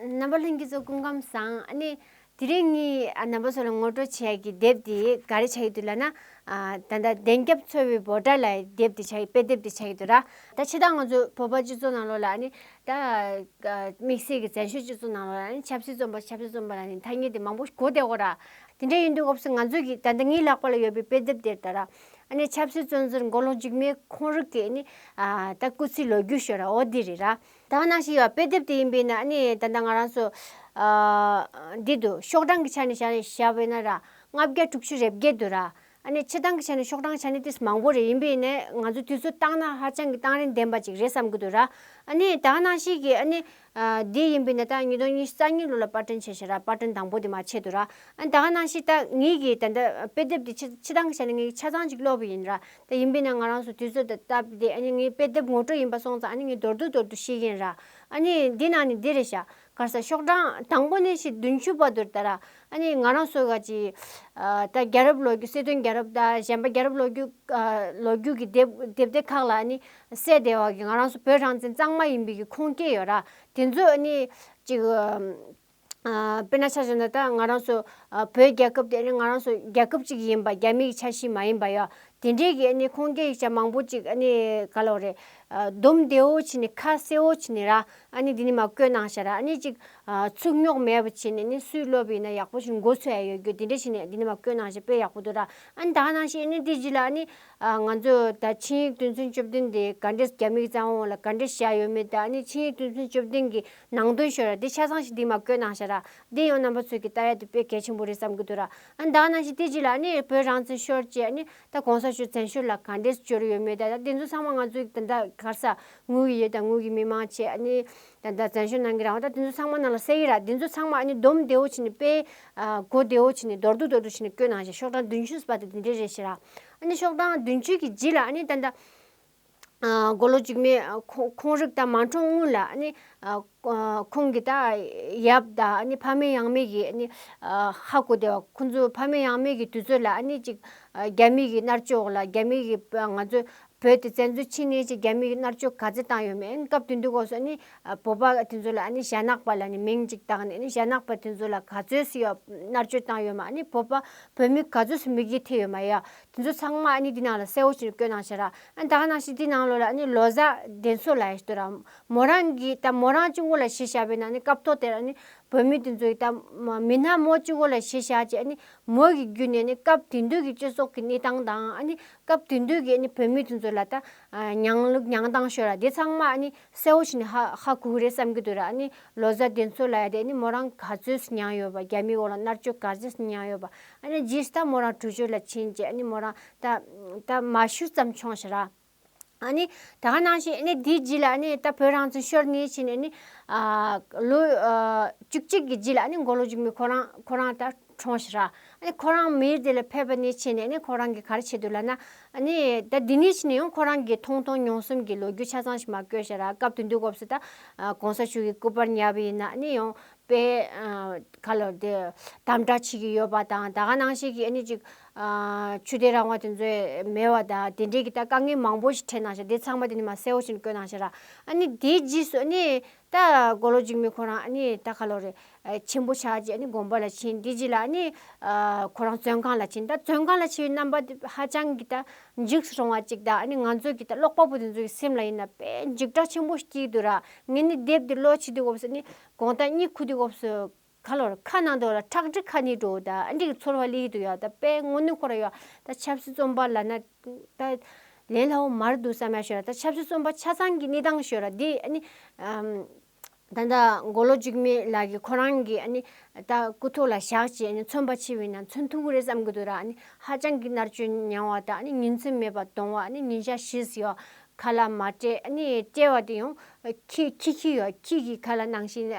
རྣམ་པ་ལྷུན་གྱིས་རྫོགས་སྐུ་ཁམས་བཟང། ནི། དེ་རིང་ངས་ནང་པ་ཚོ་ལ་ངོ་སྤྲོད་བྱ་ཡི་དེབ་དེ་ག་རེ་བྱ་ཡི་འདུག་ལ་ན། ད་ལྟ་བདེན་སྐྱབས་འཚོ་བའི་འབོ་སྒྲ་ལ་དེབ་དེ་བྱ་ཡི་དཔེ་དེབ་དེ་བྱ་ཡི་འདུག་ལ། ད་ཕྱི་ཟླ་ང་ཚོ་བོད་པ་སྤྱི་ཚོགས་ནང་ལོགས་ལ་ནི། ད། དམིགས་བསལ་གྱི་བཙན་བྱོལ་སྤྱི་ཚོགས་ནང་ལོགས་ལ་ནི་ཆབ་སྲིད་རྩོམ་པ་ཆབ་སྲིད་རྩོམ་པ་ལ་ནི་ཐ་སྙད་དེ་མང་པོ་གོ་བདེ་གོ་ལ། དེ་འདྲ་ཡིན་འདུག་སྐབས་སུ་ང་ཚོས་ཀྱི་ད་ལྟ་ངའི་ལག་པ་ལ་ཡོད་པའི་དཔེ་དེབ་དེར་ད་ར། ནི་ཆབ་སྲིད་བཙོན་ཟུར་མགོ་ལོག་འཇིགས་མེད་ཁོང་རུག་གིས་ནི། ད་སྐུ་ཚེའི་ལོ་རྒྱུས་ཤོད་ར་འོ་དེ་རེད་ར། ད་ང་ནང་ཞིག་ཡོད་དཔེ་དེབ་དེ་ཡིན་པས་ན་ནི་ད་ལྟ་ང་རང་ཚོ། འདི་དུ་ཤོག་གྲངས་ཀྱི་ཆ་ནས་བྱ་བྱ་བས་ན་ར་ལྔ་བརྒྱ་དྲུག་ཅུ་རེ་བརྒྱད་དུ་ར། ཨ་ནི་ཕྱི་ཐང་གི་ཆ་ནས་ཤོག་གྲངས་ཆ་ནས་དེས་མང་བོ་རེད་ཡིན་པས་ནི་ང་ཚོ་དུས་ཚོད་བཏང་ན་ཧ་ཅང་གི་གཏང་རིན་ལྡན་པ་ཅིག་རེད་བསམ་གྱི་འདུག་ར། ཨ་ནི་ད་ང་ནང་ཞིག་གི་ཨ་ནི། འདི་ཡིན་པས་ན་ད་ཉིས་སྟོང་ཉི་ཤུ་རྩ་གཉིས་ལོ་ལ་དཔར་སྐྲུན་བྱས་ཤིང་ར་དཔར་སྐྲུན་དང་བོ་དེ་མ་བྱས་འདུག་ར། ཨ་ནི་ད་ང་ནང་ཞིག་ད་ངེད་ཀྱིས་ད་ལྟ་དཔེ་དེབ་དེ་ཕྱི་ཕྱི་ཐང་གི་ཆ་ནས་ངེད་ཀྱིས་ཆ་ཚང་ཅིག་ཀློག་པས་ཡིན་ར། དེ་ཡིན་པས་ན་ང་རང་སུ་དུས་ཚོད་དེ་བཏབ་སྟེ་ཨ་ནི་ངའི་དཔེ་དེབ་ངོ་སྤྲོད་ཡིན་པ་སོང་ཙང་ཨ་ནི་ངས་མདོར་བསྡུ་མདོར་བསྡུ་ཤེས་ཀྱིན་ར། ཨ་ནི་འདི་ནང་ནས་འདི་རེད་བྱ། གར་ས་ཤོག་གྲངས་དང་པོ་ནས་ཤིག་བདུན་ཅུ་བར་དུར་བལྟ་ར། ཨ་ནི་ང་རང་སུ་ག་ཅིག། ད་རྒྱ་རབས་ལོ་རྒྱུས་སྲིད་དོན་རྒྱ་རབས་ད་གཞན་པ་རྒྱ་རབས་ལོ་རྒྱུས། ལོ་རྒྱུས་ཀྱི་དེབ་དེབ་དེ་ཁག་ལ་ཨ་ནི་གསལ་བདེ་བ་གི་ང་རང་སུ་བོད་རང་བཙན་གཙང་མ་ཡིན་པའི་གི་ཁུངས་སྐྱེལ་ཡོད་ར། དེ་ཚོས་ཨ་ནི་ཅིག། དཔེར་ན་ཆ་བཞག་ན་ད་ང་རང་ཚོ་བོད་རྒྱལ་ཁབ་དེ་ང་རང་ཚོ་རྒྱལ་ཁབ་ཅིག་ཡིན་པ་རྒྱ་མིའི་ཆ་ཤིས་མ་ཡིན་པ་ཡོད་དེ་འདྲའི་གི་ནི་ཁོང་གི་ཡིག་ཆ་མང་པོ་ཅིག་ཨ་ནི་ག་ལོག་རེད་སྡོམ་བདེ་བོ་བྱས་ནས་ཁ་གསལ་བོ་བྱས་ནས་ར་ཨ་ནི་འདི་ནས་མ་བཀོད་གནང་བྱས་ར་ཨ་ནི་ཅིག་ཚུགས་རྙོག་མེད་པ་བྱས་ནས་ནི་སུས་སློབ་ཡིན་ན་ཡག་པོ་ཞིག་འགོ་ཚུགས་ཨེ་ཡོད་རྒྱུ་དེ་འདྲ་བྱས་ནས་འདི་ནས་མ་བཀོད་གནང་བྱས་དཔེ་ཡག་པོ་འདུག་ར་ཨ་ནི་ད་ག་ནང་བྱས་ནི་དེ་རྗེས་ལ་ཨ་ནི་ང་ཚོ་ད་ཆིངས་ཡིག་དོན་ཚན་བཅུ་བདུན་དེ་ག་འདྲས་རྒྱ་མིའི་བཙན་དབང་ལ་ག་འདྲས་བྱས་ཡོད་མེད་དེ་ཨ་ནི་ཆིངས་ཡིག་དོན་ཚན་བཅུ་བདུན་གྱི་ནང་དོན་ཤོད་ར་དེ་ཆ་ཚང་ཞིག་འདི་མ་བཀོད་གནང་ཤ་ར་འདི་ཡང་རྣམ་པ་ཚོད་ཀྱི་ཏ་རལ་དུ་དཔེ་གལ་ཆེན་པོ་རེད་བསམ་གྱི་འདུག་ར་ཨ་མདང་ནང་བཞིན་དེ་རྗེས་ལ་ནི་བོད་རང་བཙན་ཤོར་རྗེས་ནི་ད་གོང་ས་ཆོས་བཙན་ཤོར་ལ་ག་འདྲས་སུ་གྱུར་ཡོད་མེད་ད་ད་དེ་ཚོ་ཚང་མ་ང་ཚོའི་ད་ད་གར་ས་དངུལ་གྱི་ཡོད་ད་དངུལ་གྱི་མི་མང་བྱས་ནི་ད་ད་བཙན་ཤོར་གནང་གི་རང་བ་ད་དེ་ཚོ་ཚང་མ་ནང་ལ་གསལ་ཡི་ར་དེ་ཚོ་ཚང་མ་ཨ་ནི་སྡོམ་བདེ་བོ་བྱེད་ནི་དཔེ་གོ་བདེ་བོ་བྱེད་ནི་མདོར་བསྡུ་མདོར་བསྡུ་བྱེད་ནི་བཀོད་གནང་ཤ་ཤོག་གྲངས་བདུན་ཅུ་ཟེར་བ་དེ་དེ་འདྲས་རེད་ཤེ་ར་ཨ་ནི་ཤོག་གྲངས་བདུན་ཅུ་གྱི་རྗེས་ལ་ཨ་ནི་ད་ད། མགོ་ལོག་འཇིགས་མེད་ཁོང་རིགས་དང་མ་འཁྲུངས་སྔོན་ལ་ནི་ཁོང་གི་ད་ཡབ་དང་ཕ་མེས་ཡང་མེས་ཀྱི་ནི་ཧ་གོ་བདེ་བ་ཁོང་ཚོའི་ཕ་མེས་ཡང་མེས་ཀྱི་དུས་ཚོད་ལ་ནི་ཅིག་རྒྱ་མིས་ཀྱི་མནར་གཅོད་འོག་ལ་རྒྱ་མིས་ཀྱི་ང་ཚོ་བོད་དེ་བཙན་འཛུལ་ཕྱིན་ནས་ཅིག་རྒྱ་མིས་ཀྱི་མནར་གཅོད་ག་ཚད་བཏང་ཡོད་མེད་ཨེ་སྐབས་དེ་དུས་སྐོར་སོགས་ནི་བོད་པ་དེ་ཚོ་ལ་ནི་ཞྭ་ནག་པ་ལ་ནི་མིང་ཅིག་བཏགས་ནས་ནི་ཞྭ་ནག་པ་དེ་ཚོ་ལ་ག་ཚོད་སུ་ཡོད་མནར་གཅོད་བཏང་ཡོད་མ་ནི་བོད་པ་བོད་མི་ག་ཚོད་སུ་མིག་རྒྱུ་ཐེབས་ཡོད་མ་ཡ་དེ་ཚོ་ཚང་མ་འདི་ནང་ལ་གསལ་བོ་ཞིག་བཀོད་གནང་བྱས་ར། ད་གནང་ཞིག་དེ་ནང་ལོ་ལ་ལོ་གཟའ་གདན་ཚོ་ལ་ཡོད་དོ་ར། མོ་རང་གི་ད་མོ་རང་གཅུང་པོ་ལ་ཤེས་བྱ་བས་ན་ནི་སྐབས་ཐོག་དེར་ནི་བོད་མི་དེ་ཚོ་ཡི་ད་མི་སྣ་མོ་གཅུང་པོ་ལ་ཤེས་བྱ་བྱས་ནི་མོ་ཡི་རྒྱུད་ནས་ནི་སྐབས་དེ་འདོད་ཀྱི་སྤྱི་ཚོགས་ཀྱི་གནས་སྟངས་དང་ཨ་ནི་སྐབས་དེ་འདོད་ཀྱི་ནི་བོད་མི་དེ་ཚོ་ལ་ད་མྱང་ལུགས་མྱང་སྟངས་ཤོར་ར་དེ་ཚང་མ་ནི་གསལ་བོ་བྱས་ནས་ཧ་ཧ་གོ་གི་རེད་བསམ་གྱི་འདུག་ར་ཨ་ནི་ལོ་གཟའ་དེ་ཚོ་ལ་ཡ་དེ་ནི་མོ་རང་ག་ཚོད་སུ་མྱངས་ཡོད་པ་རྒྱ་མིའི་འོག་ལ་མནར་གཅོད་ག་ཚོད་སུ་མྱངས་ཡོད་པ་ཨ་ནི་རྗེས་སུ་ད་མོ་རང་གྲུ་ཆོད་ལ་ཕྱིན་རྗེས་ཨ་ནི་མོ་རང་ད་ད་མ་ཤུལ་ཙམ་ཆོངས་ཤིག་ར་ཨ་ནི་ད་ག་ནང་བཞིན་ཨ་ནི་དེའི་རྗེས་ལ་ཨ་ནི་ད་བོད་རང་བཙན་ཤོར་ནས་ཕྱིན་ནས་ཨ་ནི་ལོ་བཅུ་གཅིག་གི་རྗེས་ལ་ཨ་ནི་མགོ་ལོག་རྒྱུ་མི་ཁོ་རང་ཁོ་རང་ད་ཁྲོང་ཞི་རག་ཨ་ཁོ་རང་མིའི་དེ་ལ་ཕེབས་པ་ནི་ཕྱིན་ནས་ནི་ཁོ་རང་གི་ག་རེ་བྱེད་འདོད་ལ་ན་ནི་ད་འདི་ནས་ཕྱིན་ནས་ཡང་ཁོ་རང་གི་མཐོང་མཐོང་མྱོང་གསུམ་གྱི་ལོ་རྒྱུས་ཆ་ཚང་ཞིག་མ་བཀོད་ཞེ་རག་སྐབས་དུས་འདི་སྐོབས་སུ་ད་གོང་ས་མཆོག་གི་སྐུ་པར་ཉར་བ་ཡིན་ན་ནི་ཡང་དཔེ་ག་ལ་དེ་དམ་དྲག་བྱེད་ཀྱི་ཡོད་པ་དང་ད་ག་ནང་བཞིན་གྱི་ནི་ཅིག་ཆུ་གཏེར་རང་བ་དེ་ཚོའི་མེད་བ་དང་དེ་འབྲེལ་གྱི་ད་དཀའ་ངལ་མང་པོ་ཞིག་འཕྲད་ན་ཞེ་དེ་ཚང་མ་དེ་ནི་མ་གསལ་བོ་ཞིག་ནི་བཀོད་ན་ཞེ་རག་ཨ་ནི་དེའི་རྗེས་སུ་ཨ་ནི་ད་གོ་ལོ་གཅིག་མིན་ཁོ་རང་ཨ་ནི་ད་ག་ལོ་རེད་ཆེན་པོ་ཆགས་རྗེས་ཨ་ནི་དགོན་པ་ལ་ཕྱིན་དེ་རྗེས་ལ་ཨ་ནི་ཁོ་རང་བཙོན་ཁང་ལ་ཕྱིན་ད་བཙོན་ཁང་ལ་ཕྱིན་པའི་རྣམ་པ་དེ་ཧ་ཅང་གི་ད་འཇིགས་སུ་རུང་བ་ཅིག་དང་ཨ་ནི་ང་ཚོ་གི་ད་ཀློག་པ་པོ་དེ་ཚོ་གི་སེམས་ལ་ཡིན་ན་དཔེ་འཇིགས་སྐྲག་ཆེན་པོ་ཞིག་སྐྱིད་འདུག་ར་ངས་ནི་དེབ་དེ་ཀློག་བྱེད་དུས་སྐབས་སུ་ཨ་ནི་གོང་ལྟར་གཉིད་ཁུག་དུས་སྐབས་སུ་ཁ་ལོར་ཁ་ནང་དུ་ལ་ཁྲག་དྲི་ཁ་ནི་དྲོ་ད་འགྲིག་ཚོར་བ་ལི་ཧི་དུ་ཡ་ད་པའི་སྔོ་སྣུ་ཁོ་ར་ཡོ་ད་ཆབ་སྲི་རྩོམ་པ་ལ་ན་ད་ལན་ལྷ་འོ་མར་འདུག་ས་མ་ཤོ་ར་ད་ཆབ་སྲི་རྩོམ་པ་ཆ་ཚང་གི་ནི་དང་ཤོ་ར་དེ་ནི་ད་ད་མགོ་ལོ་འཇིགས་མེད་ལགས་ཀྱི་ཁོ་རང་གི་ནི་ད་སྐུ་ཐོག་ལ་བཞག་ཅེས་ནི་མཚོན་པ་ཆེ་བས་ན་མཚོན་ཐུ་གུ་རེ་བསམ་གི་འདུག་ར་ནི་ཧ་ཅང་གི་མནར་གཅོད་མྱང་བ་ད་ནི་ཉིན་མཚན་མེད་པ་གདོང་བ་ནི་ཉིན་ཞག་བཞིས་ཡོ་ཁ་ལ་མ་སྤྲད་ནི་སྤྲད་བ་དེ་ཡང་ཁྱི་ཁྱི་ཡོ་ཁྱི་གི་ཁ་ལ་ནང་བཞིན་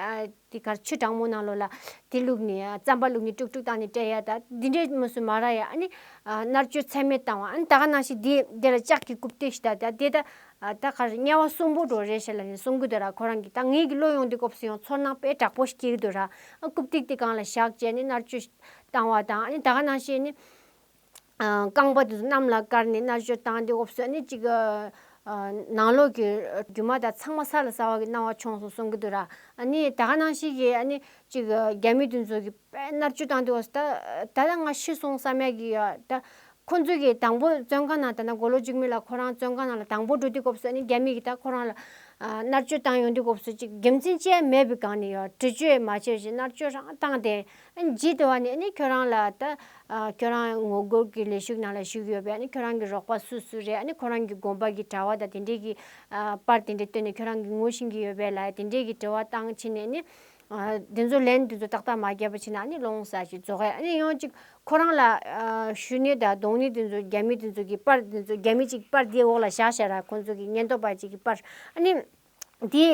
དེ་གར་ཆུ་གྲང་མོ་ནང་ལོགས་ལ་དེ་བླུགས་ནས་རྩམ་པ་བླུགས་ནས་དཀྲུག་དཀྲུག་བཏང་ནས་སྤྲད་ཡ་ད་དེ་འདྲའི་མུ་སུ་མ་ར་ཡ་ཨ་ནི་མནར་གཅོད་ཚད་མེད་བཏང་བ་ཨ་ནི་ད་ག་ནང་བཞིན་དེ་དེ་ལ་ལྕགས་ཀྱི་རྐུབ་སྟེགས་ཤིག་ད་དེ་ད་ད་གར་དམྱལ་བ་གསུམ་པོ་འགྲོ་རེད་བཤད་ལ་ནི་གསུམ་གུ་དོ་ར་ཁོ་རང་གི་ད་ངེད་ཀྱི་བློ་ཡོང་དེ་སྐོབས་སུ་ཡོང་ཚོར་སྣང་དཔེ་དྲག་པོ་ཞིག་སྐྱེ་གི་དོ་ར་ཨ་རྐུབ་སྟེགས་དེ་གང་ལ་བཞག་ཅེས་ཨ་ནི་མནར་གཅོད་བཏང་བ་དང་ཨ་ནི་ད་ག་ནང་བཞིན་ཨ་ནི། རྐང་པ་དེ་ཚོ་གནམ་ལ་བཀར་ནས་མནར་གཅོད་བཏང་སྟེ་འོབས་སོད་ནི་གཅིག་ནང་ལོགས་ཀྱི་རྒྱུ་མ་དག་ཚང་མ་ས་ལ་ཟ་བ་གི་སྣང་བ་བྱུང་སོང་གསུང་གི་འདུག་ར་ཨ་ནི་ད་ག་ནང་ཞིག་གིས་ཨ་ནི་གཅིག་རྒྱ་མི་དེ་ཚོ་གི་དཔལ་མནར་གཅོད་བཏང་སྟེ་འོབས་སོད་ད་ད་ལྟ་ང་ཤི་སོང་བསམ་ཡག་གི་ཡོད་ད་ཁོ་ཚོ་གི་དང་པོ་བཙོན་ཁང་ནང་ད་ནང་མགོ་ལོག་གཅིག་མི་ལ་ཁོ་རང་བཙོན་ཁང་ནང་ལ་དང་པོ་འགྲོ་དུས་འོབས་སོད་ནི་རྒྱ་མི་གི་ད་ཁོ་རང་ལ་མནར་གཅོད་བཏང་ཡོང་དུས་འོབས་སོད་ཅིག་དགེ་མཚན་ཅན་མེད་པའི་སྒང་ནས་ཡོད་འདྲི་གཅོད་མ་བྱེད་ཅིག་མནར་གཅོད་རང་བཏང་སྟེ་ཇི་ལྟ་བ་ནས་ནི་ཁྱོད་རང་ལ་ད། ཁྱོད་རང་ངོ་རྒོལ་གྱི་ལས་ཞུགས་ནང་ལ་ཞུགས་ཡོད་པས་ཁྱོད་རང་གི་རོགས་པ་སུ་སུ་རེད་ཁོ་རང་གི་དགོངས་པ་གྱི་དྲ་བ་དང་དེ་འབྲེལ་གྱི། པར་དེ་འདྲ་བཏོན་ནས་ཁྱོད་རང་གིས་ངུ་བཞིན་གྱི་ཡོད་པས་ལ་དེ་འབྲེལ་གྱི་དྲི་བ་བཏང་ཕྱིན་ནས་ནི། དེ་ཚོ་ལན་དེ་ཚོ་ཏག་ཏག་མ་རྒྱབ་པ་ཕྱིན་ན་ནི་ལོང་ས་ཞིག་རྫོགས་ཡ་ནི་ཡོང་ཅིག་ཁོ་རང་ལ། ཞུས་ནས་དང་གདོང་ནི་དེ་ཚོ་རྒྱ་མི་དེ་ཚོ་གི་པར་དེ་ཚོ་རྒྱ་མི་གཅིག་པར་དེའི་འོག་ལ་བཞག་ཤ་ར་ཁོ་ཚོ་གི་སྙན་ཐོ་པ་གཅིག་གི་པར་ཨ་ནི། དེ་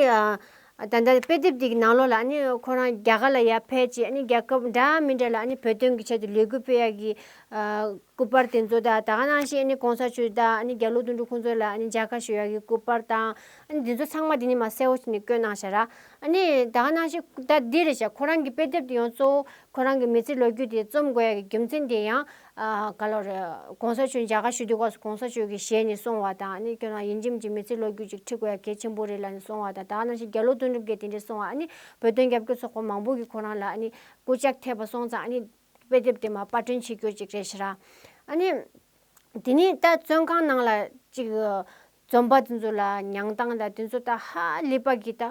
ད་ལྟ་དཔེ་དེབ་དེ་གི་ནང་ལོགས་ལ་ནི་ཁོ་རང་རྒྱ་གར་ལ་ཡར་ཕེབས་རྗེས་ནི་རྒྱལ་ཁབ་འདྲ་མི་འདྲ་ལ་ནི་བོད་དོན་གྱི་ཆེད་དུ་ལས་འགུལ་སྤེལ་ཡག་གི་སྐུ་པར་དེ་ཚོ་དང་ད་ག་ནང་བཞིན་ནི་གོང་ས་མཆོད་དང་ཨ་ནི་རྒྱ་ལོ་དུང་ཕྲུག་ཁོང་ཚོ་ལ་ནི་མཇལ་ཁ་ཞུ་ཡག་གི་སྐུ་པར་དང་ཨ་ནི་དེ་ཚོ་ཚང་མ་དེ་ནི་མ་གསལ་བོ་ཞིག་ནས་བཀོད་གནང་ཞ་ར། ཨ་ནི་ད་ག་ནང་བཞིན་ད་འདི་རེད་བཞག་ཁོ་རང་གི་དཔེ་དེབ་དེ་ཡང་གཙོ་བོ་ཁོ་རང་གི་མི་ཚེ་ལོ་རྒྱུས་དེ་རྩོམ་དགོས་ཡག་གི་རྒྱུ་མཚན་དེ་ཡང་ག་ལོར། གོང་ས་མཆོད་མཇལ་ཁ་ཞུ་དུས་སྐབས་སུ་གོང་ས་མཆོད་ཀྱིས་ཞལ་ནས་སོང་བ་དང་ནི་ཁྱོད་རང་ཡིད་འཇིམ་གྱི་མི་ཚེ་ལོ་རྒྱུས་ཅིག་འཁྲིད་དགོས་ཡ་གལ་ཆེན་པོ་རེད་ལ་ནི་སོང་བ་དང་དག་ནང་བཞིན་རྒྱ་ལོ་དོན་གྲུབ་རྒྱལ་དེ་འདྲས་སོང་བ་ཨ་ནི་བོད་དོན་རྒྱབ་སྐྱོར་ཚོགས་པ་མང་པོ་གིས་ཁོ་རང་ལ་ཨ་ནི་སྐུ་ལྕགས་ཐེབས་པ་སོང་ཙང་ཨ་ནི་དཔེ་དེབ་དེ་མ་དཔར་སྐྲུན་བྱེད་རྒྱུ་ཅིག་རེད་ཤི་ར། ཨ་ནི། དེ་ནས་ད་བཙོན་ཁང་ནང་ལ་ཅིག། རྩོམ་པ་དེ་ཚོ་ལ་མྱང་སྟངས་དང་དེ་ཚོ་ལྟ་ཧ་ལི་པ་གི་ད་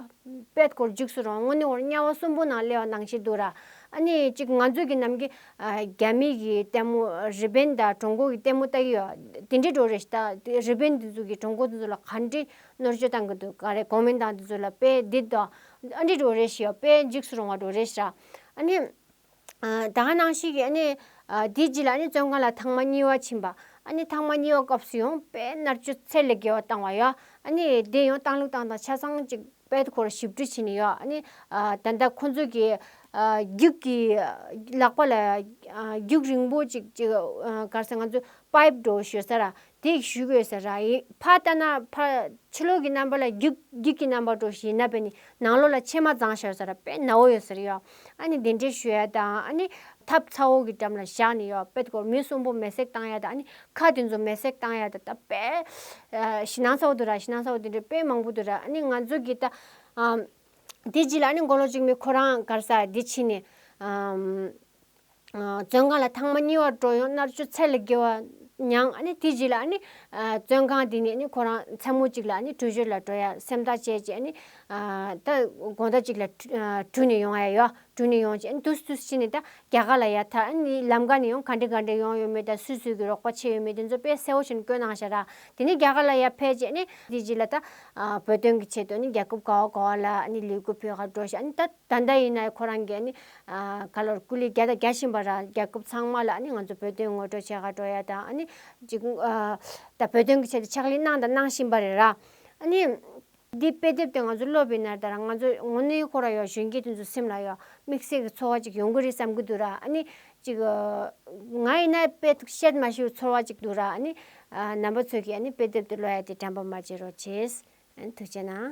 པད་སྐོར་འཇིགས་སུ་རུང་དངོས་གནས་བོར་དམྱལ་བ་གསུམ་པོ་ནང་སླེ་བ་ནང་བཞིན་འདུག་ར་ཨ་ནི་གཅིག་ང་ཚོས་གི་ནམ་གི་རྒྱ་མི་གི་ལྟད་མོ་རི་པིན་དང་ཀྲུང་གོ་གི་ལྟད་མོ་ལྟ་གི་ཡོད་དེ་འདྲའི་འགྲོ་རེ་ཞིག་ལྟ་དེ་རི་པིན་དེ་ཚོ་གི་ཀྲུང་གོ་དེ་ཚོ་ལ་ག་འདྲི་གནོར་བཅོད་བཏང་གི་འདུག་ག་རེ་གོ་མིན་ཏང་དེ་ཚོ་ལ་དཔེ་འདི་དང་ཨ་འདྲི་འགྲོ་རེ་ཞིག་ཡོད་དཔེ་འཇིགས་སུ་རུང་བ་འགྲོ་རེ་ཞིག་ར་ཨ་ནི་ད་ང་ནང་ཞིག་གིས་ཨ་ནི་དེའི་རྗེས་ལ་ཨ་ནི་བཙོན་ཁང་ལ་ཐང་མ་གཉིས་བ་ཕྱིན་པ་ཨ་ནི་ཐང་མ་གཉིས་བ་སྐབས་སུ་ཡང་དཔེ་མནར་གཅོད་ཚད་ལས་བརྒལ་བ་བཏང་བ་ཡོད་ཨ་ནི་དེ་ཡང་བཏང་ལུགས་བཏང་སྟངས་ཆ་ཚང་གཅིག་དཔེ་དེ་ཁོར་ཞིབ་འབྲི་བྱས་ནས་ཡོད་ཨ་ནི་ད་ལྟ་ཁོ་ཚོ་གིས་རྒྱུགས་ཀྱི་ལག་པ་ལ་རྒྱུགས་རིང་པོ་ཅིག་ཅིག་གར་སེ་ང་ཚོས་པཱེབ་འགྲོ་ཞོད་ས་ར་དེས་ཞུས་པས་ས་རཱ་ཧའི་བྷ་ཏཱ་ན་བྷ། ཕྱི་ལོགས་ཀྱི་རྣམ་པ་ལ་རྒྱུག་རྒྱུག་གི་རྣམ་པར་འགྲོ་ཞེས་ན་པས་ནི་ནང་ལོགས་ལ་ཕྱེ་མ་བརྫངས་ཤར་ས་ར་པས་ན་འོ་ཡོ་ཟེར་ཡོ། ཨ་ནི་དེ་འདྲའི་ཞོ་ཡ་དང་ཨ་ནི། ཐབ་ཚ་འོག་གི་འགྲམ་ལ་བཞག་ནས་ཡོ་པད་གོར་མོའི་གསོང་པོ་མེ་སྲེག་བཏང་ཡ་དང་ཨ་ནི། ཁ་དེ་ཚོ་མེ་སྲེག་བཏང་ཡ་ད་ད་པས། ཤི་ནང་ས་འོག་ཏུ་ར་ཤི་ནང་ས་འོག་དེ་འདྲའི་པད་མང་པོ་དུ་ར་ཨ་ནི་ང་ཚོ་གིས་ད། དེ་རྗེས་ལ་ཨ་ནི་མགོ་ལོག་ཅིག་མའི་ཁོ་རང་གར་ས་དེ་ཕྱིན་ནས། བཙོན་ཁང་ལ་ཐང་མ་གཉིས་བར་འགྲོ་ཡོང་མནར་གཅོད་ཚད་ལས་བརྒལ་བ་མྱངས་ཨ་ནི་དེ་རྗེས་ལ་ཨ་ནི་བཙོན་ཁང་དེ་ནས་ཁོ་རང་མཚན་མོ་གཅིག་ལ་ཨ་ནི་བྲོས་བྱོལ་ལ་འགྲོ་ཡ་སེམས་ཐག་བཅད་རྗེས་ཨ་ནི་ད་དགོང་ཟླ་གཅིག་ལ་དྲུད་ནས་ཡོང་ཨ་ཡོ་དྲུད་ནས་ཡོང་རྗེས་ཨ་ནི་དུས་སུ་དུས་སུ་ཕྱིན་ནས་ད་རྒྱ་གར་ལ་ཡ་མཐར་ཨ་ནི་ལམ་ཀ་ནས་ཡོང་ག་འདྲེ་ག་འདྲེ་ཡོང་ཡོད་མེད་ད་སུས་སུས་ཀྱི་རོགས་པ་བྱས་ཡོད་མེད་དེ་ཚོ་དཔེ་གསལ་བོ་བཞིན་བཀོད་གནང་ཞེས་ར་དེ་ནས་རྒྱ་གར་ལ་ཡ་ཕེབས་རྗེས་ཨ་ནི་དེ་རྗེས་ལ་ད་བོད་དོན་གྱི་ཆེད་དུ་ཨ་ནི་རྒྱ་ཁབ་ག་བ་ག་བ་ལ་ཨ་ནི་ལས་འགུལ་ཕོད་ཁར་འགྲོ་ཞེས་ཨ་ནི་ད་ད་ལྟ་ཡིན་ན་ཁོ་རང་གིས་ག་ལོར་སྐུ་ལས་རྒྱ་དང་རྒྱ་བཞིན་པ་ར་རྒྱལ་ཁབ་ཚང་མ་ལ་ང་ཚོ་བོད་དོན་ངོ་སྤྲོད་བྱེད་ག་འགྲོ་ཡ་དང་ཨཱ་ནི་བོད་དོན་གྱི་ཆེད་དུ་ཕྱག་ལས་གནང་དང་གནང་བཞིན་པ་རེད་ར། ཨཱ་ནི་འདི་དཔེ་དེབ་དེ་ང་ཚོ་ཀློག་པའི་ནང་ལྟར་ང་ཚོ་ངོ་གནས་ཁོ་ར་ཡོག་གཞོན་སྐྱེས་དེ་ཚོ་སེམས་ལ་ཡོག་དམིགས་བསལ་གྱི་ཚོར་བ་ཅིག་ཡོང་གི་རེད་བསམ་གྱི་འདུག་ར་ཨཱ་ནི་ཅིག་ང་ཡིན་ན་དཔེ་དེབ་བཤད་མ་ཤེས་པའི་ཚོར་བ་ཅིག་འདུག་ར་ཨཱ་ནི་ནང་པ་ཚོས་ཀྱིས་དཔེ་དེབ་དེ་ཀློག་ཡ་དེ་དྲན་པ་མ་བྱེད་རོགས་བྱེད། ཐུགས་ཆེ་གནང།